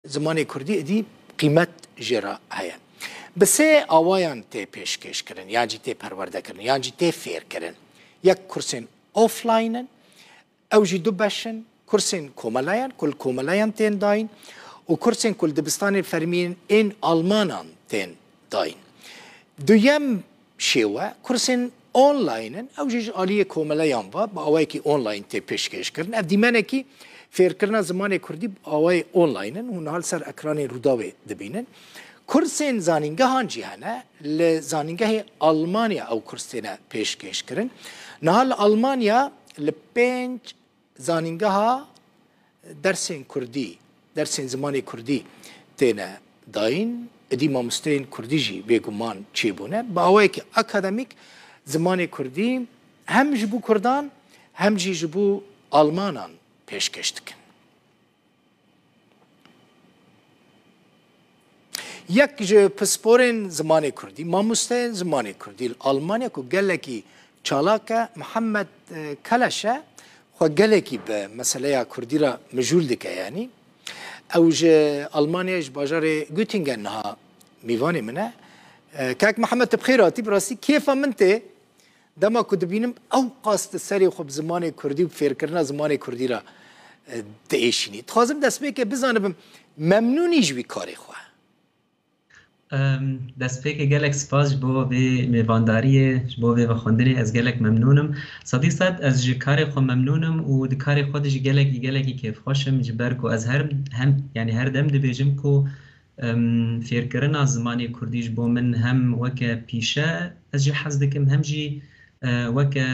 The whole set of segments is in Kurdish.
Zimanê kurdî êdî qîmet jê re heye. Bi sê awayan tê pêşkêşkirin yan jî tê perwerdekirin yan jî tê fêrkirin. Yek kursên offline in, ew jî du beş in, kursên komeleyan ku li komeleyan tên dayîn û kursên ku li dibistanên fermî yên almanan tên dayîn. Duyem Şêwe, kursên online in, ew jî ji aliyê komeleyan ve bi awayekî online tê pêşkêş kirin. Ev dîmenekî fêrkirina zimanê kurdî bi awayê online in, hûn niha li ser ekranên Rûdawê dibînin. Kursên zanîngehan jî hene, li zanîngehê Almanya ew kurs têne pêşkêş kirin. Niha li Almanya li pênc Zanîngeha dersên kurdî, dersên zimanê kurdî têne dayîn, êdî mamosteyên kurdî jî bêguman çêbûne. Bi awayekî akademîk zimanê kurdî hem ji bo kurdan hem jî ji bo almanan pêşkêş dikin. Yek ji pisporên zimanê Kurdî, mamosteyên zimanê Kurdî li Almanya ku gelekî çalak e Mihemed e, Keleş e, xwe gelekî bi meseleya Kurdî re mijûl dike yanî. Ew ji Almanyayê ji bajarê Göttingen niha mîvanê min e. E, Kak Mihemed tu bi xêr hatî, bi rastî kêfa min tê Dema ku dibînim ew qas di serê xwe bi zimanê kurdî û bi fêrkirina zimanê kurdî re diêşînî. Dixwazim destpêkê bizanibim memnûnî ji wî karê xwe? Destpêkê gelek spas ji bo vê mêvandariyê, ji bo vê vexwendinê. Ez gelek memnûn im. Sedî sed ez ji karê xwe memnûn im û di karê xwe de jî gelekî gelekî kêfxweş im ji ber ku ez her yanî her dem dibêjim ku Fêrkirina zimanê kurdî ji bo min hem weke pîşe ez jî hez dikim hem jî weke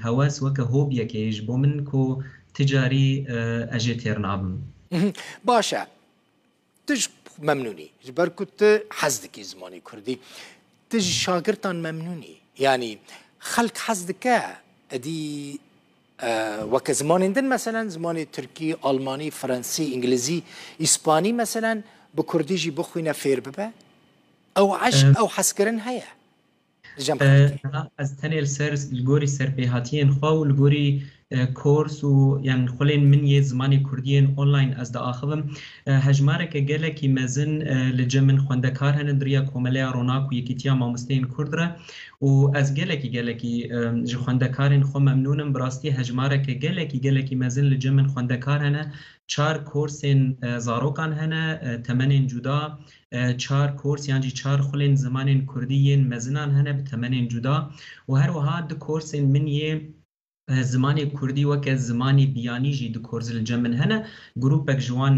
hewes, weke hobiyekê ye ji bo min ku ti carî ez jê têr nabim. Baş e. Tu ji xwe memnûn î ji ber ku tu hez dikî zimanê kurdî. Tu ji şagirtan memnûn î? Yanî xelk hez dike edî Weke zimanên din meselen zimanê tirkî, almanî, fransî, îngilizî, îspanî meselen bi kurdî jî bixwîne fêr bibe? Ew eşq, ew hezkirin heye li cem xelkê? Na, ez tenê li ser li gorî serpêhatiyên xwe û li gorî kors û yan xulên min yê zimanê kurdî yên online ez diaxivim. Hejmareke gelekî mezin li cem min xwendekar hene di riya Komeleya Ronak û Yekîtiya Mamosteyên Kurd re û ez gelekî gelekî ji xwendekarên xwe memnûn im, bi rastî hejmareke gelekî gelekî mezin li cem in xwendekar hene, çar korsên zarokan hene, temenên cuda, çar kors yan jî çar xulên zimanên kurdî yên mezinan hene bi temenên cuda û her wiha du korsên min yê Zimanê kurdî weke zimanê biyanî jî di Korzilca min hene. Grûpek ji wan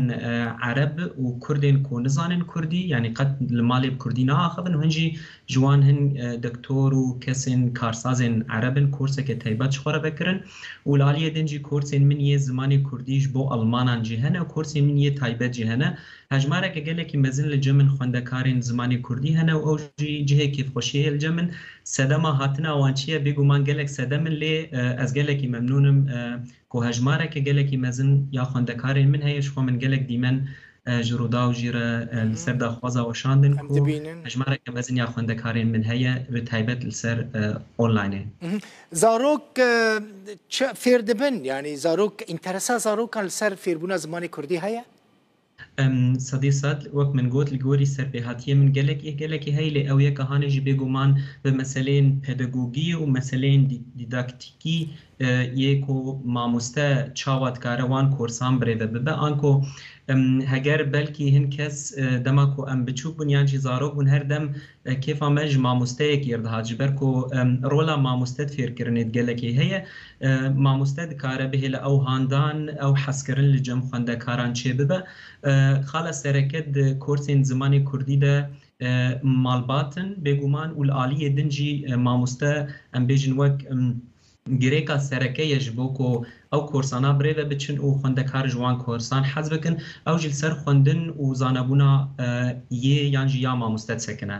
ereb û kurd ên ku nizanin kurdî yanî qet li malê bi kurdî naaxivin û hin jî ji wan hin doktor û kesên karsazên ereb in korseke taybet ji xwe re vekirin û li aliyê din jî korsên min yê zimanê kurdî ji bo almanan jî hene û korsên min yê taybet jî hene. Hejmareke gelekî mezin li Jemin xwendekarên zimanê kurdî hene û ew jî cihê kêfxweşiyê ye li Jemin. Sedema hatina wan çi ye? Bêguman gelek sedem in lê ez gelekî memnûn im ku hejmareke gelekî mezin ya xwendekarên min heye. Ji xwe min gelek dîmen ji Rûdaw jî re li ser daxwaza weşandin ku hejmareke mezin ya xwendekarên min heye bi taybet li ser onlaynê. Zarok çi fêr dibin? Yanî zarok înteresa zarokan li ser fêrbûna zimanê kurdî heye? Em sedê sed, wek min got, li gorî serpêhatiyê min gelek ê gelekê heye lê ew yek a hanê jî bêguman bi meseleyên pedagogî û meseleyên dîdaktîkî yê ku mamoste çawa dikare wan korsan birêve bibe an ku heger belkî hin kes dema ku em biçûk bûn yan jî zarok bûn her dem kêfa me ji mamosteyek yêr dihat ji ber ku rola mamoste di fêrkirinê di gelekê heye Mamoste dikare bihêle ew handan, ew hezkirin li cem xwendekaran çêbibe. Xala sereke di korsên zimanê kurdî de malbat in bêguman û li aliyê din jî mamoste em bêjin wek girêka sereke ye ji bo ku ew korsana bi rê ve biçin û xwendekar ji wan korsan hez bikin, ew jî li ser xwendin û zanebûna yê yan jî ya mamoste disekine.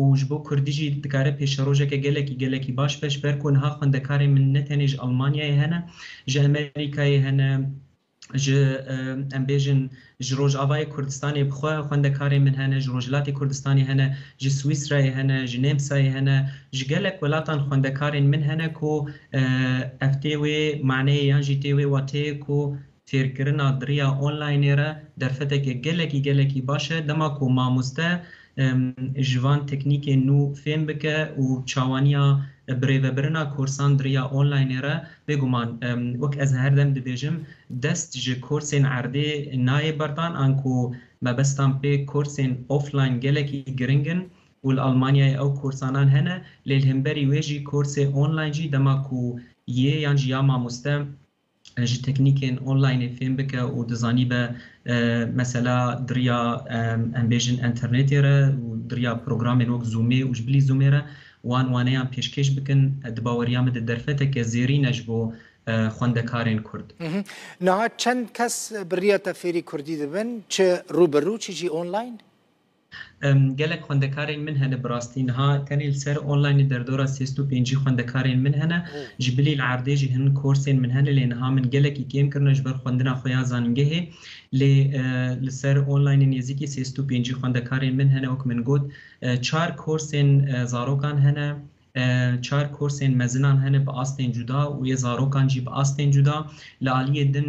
û ji bo kurdî jî dikare pêşerojeke gelekî gelekî baş beş ber ku niha xwendekarên min ne tenê ji Almanyayê hene, ji Amerîkayê hene, ji em bêjin ji Rojavayê Kurdistanê bi xwe xwendekarên min hene, ji Rojhilatê Kurdistanê hene, ji Swîsrayê hene, ji Nêmsayê hene, ji gelek welatan xwendekarên min hene ku ev tê wê maneyê yan jî tê wê wateyê ku Têrkirina diriya onlaynê re derfeteke gelekî gelekî baş e dema ku mamoste ji van teknîkên nû fêm bike û çawaniya birêvebirina korsan diriya onlaynê re bêguman wek ez her dem dibêjim dest ji korsên erdê nayê berdan anku mebestan pê korsên offline gelekî giring in û li Almanyayê ew korsanan hene lê li hemberî wê jî korsê online jî dema ku yê yan jî ya mamoste ji teknîkên onlaynê fêm bike û dizanîbe mesela diriya em bêjin enternetê re û diriya programên wek zûmê û ji bilî zûmê re wan waneyan pêşkêş bikin di baweriya min de derfeteke zêrîn e ji bo xwendekarên Kurd. Niha çend kes bi riya te fêrî Kurdî dibin çi rû bi rû çi jî onlayn? Gelek xwendekarên min hene bi rastî niha tenê li ser onlaynê derdora sêst û pêncî xwendekarên min hene. Ji bilî li erdê jî hin korsên min hene lê niha min gelekî kêm kirine ji ber xwendina xwe ya zanîngehê lê li ser onlaynê nêzîkî sêst û pêncî xwendekarên min hene wek min got çar korsên zarokan hene çar korsên mezinan hene bi astên cuda û yê zarokan jî bi astên cuda li aliyê din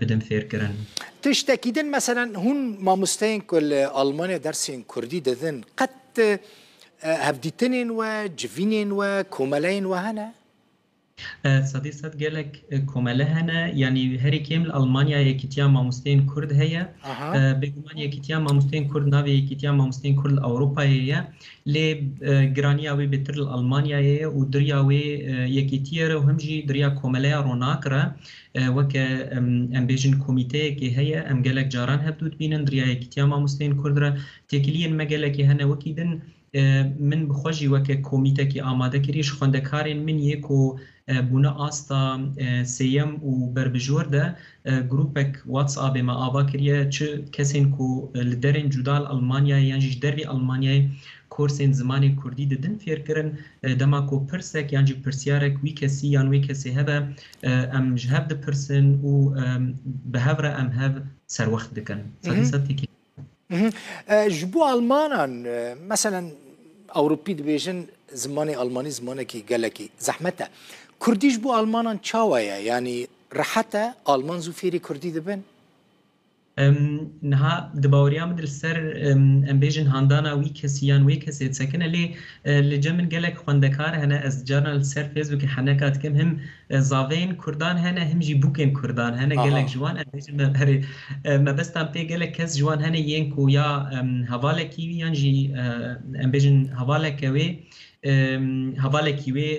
bidim fêrkirin. Tiştekî din meselen hûn mamosteyên ku li Almanya dersên kurdî didin qet hevdîtinên we, civînên we, komeleyên we hene? Sedî sed gelek komele hene yanî herî kêm li Almanya yekîtiya mamosteyên kurd heye. Bêguman yekîtiya mamosteyên kurd navê yekîtiya mamosteyên kurd li Ewropayê ye. Lê giraniya wê bêtir li Almanyayê ye û diriya wê yekîtiyê re û him jî diriya komeleya ronak re Weke em bêjin komîteyekê heye, em gelek caran hevdû dibînin, riya Yekîtiya Mamosteyên Kurd re. Têkiliyên me gelekî hene wekî din. Min bi xwe jî weke komîtekî amade kirî. Ji xwendekarên min yê ku bûne asta sêyem û berbijwar de grûpek WhatsAppê me ava kiriye çi kesên ku li derên cuda li Elmanyayê yan jî ji dervê Elmanyayê korsên zimanê Kurdî didin fêrkirin. Dema ku pirsek yan jî pirsyarek wî kesî yan wê kesê hebe Em ji hev dipirsin û bi hev re em hev serwext dikin. Sedî sed têkî. Ji bo Almanan meselen Ewropî dibêjin zimanê Almanî zimanekî gelekî zehmet e. Kurdî ji bo Almanan çawa ye? Yanî rehet e? Alman zû fêrî Kurdî dibin? Niha di baweriya min de li ser em bêjin handana wî kesî yan wê kesê disekin e lê li cem min gelek xwendekar hene ez carna li ser fêsbûkê heneka dikim him zaveyên kurdan hene him jî bûkên kurdan hene gelek ji wan em bêjin me berê mebestan pê gelek kes ji wan hene yên ku ya hevalekî wî yan jî em bêjin hevaleke wê hevalekî wê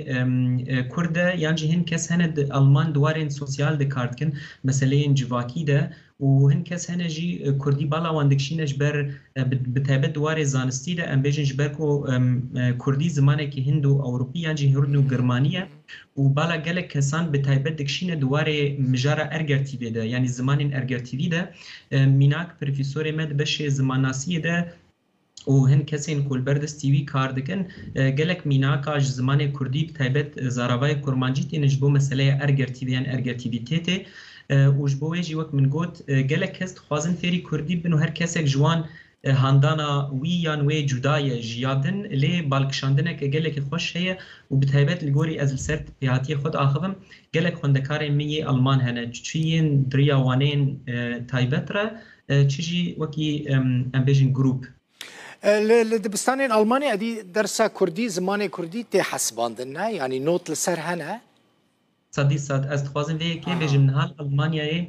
Kurd e yan jî hin kes hene di Alman di warên sosyal de kar dikin, meseleyên civakî de û hin kes hene jî Kurdî bala wan dikişîne ji ber bi taybet di warê zanistî de em bêjin ji ber ku Kurdî zimanekî hind û ewropî yan jî hind û girmanî ye û bala gelek kesan bi taybet dikişîne di warê mijara ergertîvê de yanî zimanên ergertîvî de. Mînak pirfîsorê me di beşê zimannasiyê de û hin kesên ku li ber destî wî kar dikin, gelek mînaka ji zimanê kurdî bi taybet zaravayê kurmancî têne ji bo meseleya ergirtî de yan ergirtîvîtêtê û ji bo wê jî wek min got gelek kes dixwazin fêrî kurdî bibin û her kesek ji wan handana wî yan wê cuda ye ji ya din lê balkişandineke gelekî xweş heye û bi taybet li gorî ez li ser pêhatiyê xwe diaxivim gelek xwendekarên min yê elman hene çi yên di riya waneyên taybet re çi jî wekî em bêjin grûp. Li dibistanên Almanya edî dersa kurdî, zimanê kurdî tê hesibandin ne? Yanî not li ser hene? Sedî sed ez dixwazim vê yekê bêjim niha li Almanyayê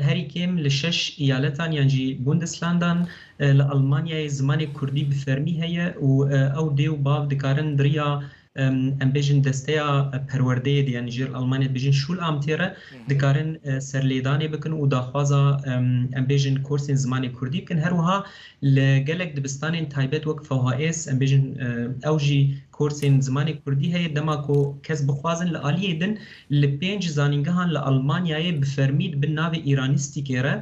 herî kêm li şeş îyaletan yan jî Bundeslandan li Almanyayê zimanê kurdî bi fermî heye û ew dê û bav dikarin di riya em bêjin desteya perwerdeyê de yanî jê li Almanyayê bêjin Schulamtê re dikarin serlêdanê bikin û daxwaza em bêjin kursên zimanê Kurdî bikin. Her wiha li gelek dibistanên taybet wek FHS em bêjin ew jî kursên zimanê Kurdî heye dema ku kes bixwazin li aliyê din li pênc zanîngehan li Almanyayê bi fermî di bin navê îranîstîkê re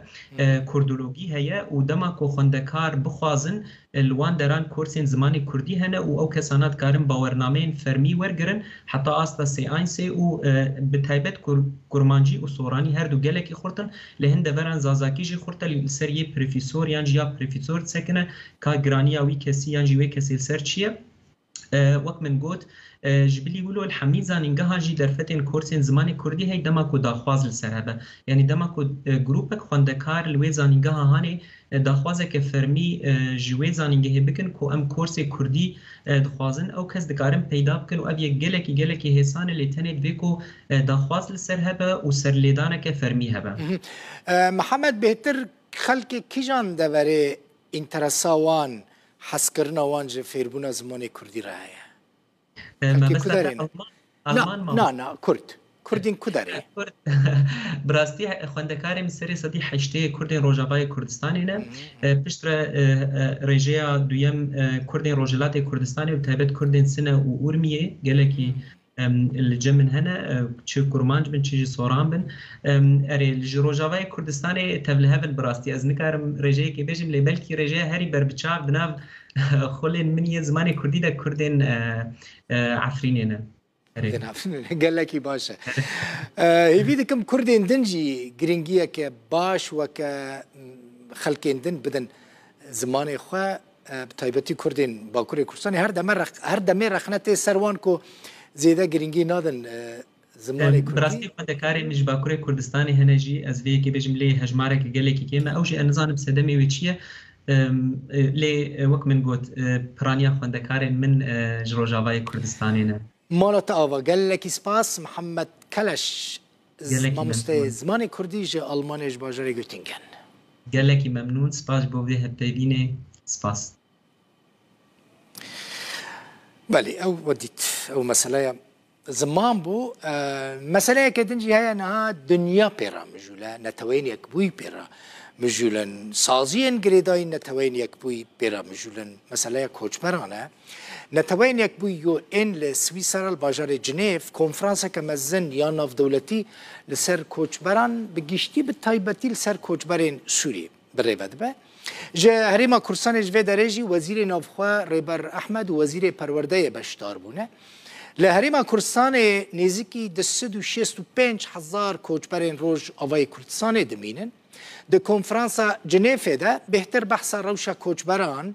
kurdologî heye û dema ku xwendekar bixwazin Li wan deran kursên zimanê kurdî hene û ew kesana dikarin bawernameyên fermî wergirin heta asta sêansê û bi taybet ku kurmancî û soranî her du gelekî xurt in, lê hin deveran zazakî jî xurt e, li ser yê prefîsor yan jî ya prefîsor disekine ka giraniya wî kesî yan jî wê kesê li ser çi ye. Wek min got, ji bilî wilo li hemî zanîngehan jî derfetên korsên zimanê kurdî hey dema ku daxwaz li ser hebe. Yanî dema ku grûpek xwendekar li wê zanîngeha hane daxwazeke fermî ji wê zanîngehê bikin ku em korsê kurdî dixwazin, ew kes dikarin peyda bikin û ev yek gelekî gelekî hêsan e lê tenê divê ku daxwaz li ser hebe û serlêdaneke fermî hebe. Mihemed bêhtir xelkê kijan deverê înteresa wan Hezkirina wan ji fêrbûna zimanê kurdî re heye. Herkê ku derê ne. Na, na, kurd. Kurdên ku derê. Bi rastî xwendekarê min serê sedî heştê yê kurdên rojavayê Kurdistanê ne. Pişt re rêjeya duyem kurdên rojhilatê Kurdistanê û bi taybet kurdên Sine û Urmiyê gelekî li cem min hene çi kurmanc bin çi jî soran bin erê li ji rojavayê Kurdistanê tevlihev in bi rastî ez nikarim rêjeyekê bêjim lê belkî rêjeya herî berbiçav di nav xulên min yên zimanê kurdî de kurdên Efrînê ne. Kurdên Efrînê ne gelekî baş e. Hêvî dikim kurdên din jî giringiyeke baş weke xelkên din bidin zimanê xwe Bi taybetî Kurdên Bakurê Kurdistanê her deme her demê rexne tê ser wan ku zêde girîngî nadin zimanê Kurdî. Bi rastî xwendekarên ji Bakurê Kurdistanê hene jî ez vê yekê bêjim lê hejmarek gelekî kêm e. Ew jî ez nizanim sedemê wê çi ye lê wek min got piraniya xwendekarên min ji Rojavayê Kurdistanê ne. Mala te ava. Gelekî spas Mihemed Keleş. Gelekî Mamosteyê memnûn. zimanê kurdî ji Almanyayê ji bajarê Göttingen. Gelekî memnûn, spas ji bo vê hevpeyvînê. Spas. Belê ew we dît. Ew meseleya ziman bû. Meseleyeke din jî heye niha dinya pê re mijûle, Neteweyên Yekbûyî pê re mijûlin, saziyên girêdayî Neteweyên Yekbûyî pê re mijûlin, meseleya koçberan e. Neteweyên Yekbûyî ên li Swîsera li bajarê Cinêv konferanseke mezin ya navdewletî li ser koçberan bi giştî bi taybetî li ser koçberên Sûrî bi rê ve dibe. Ji Herêma Kurdistanê ji vê derê jî Wezîrê Navxwe Rêber Ehmed û Wezîrê Perwerdeyê beşdar bûne. Li Herêma Kurdistanê nêzîkî du sed û şêst û pênc hezar koçberên roj avayê Kurdistanê dimînin. Di konferansa Cinêfê de bêhtir behsa rewşa koçberan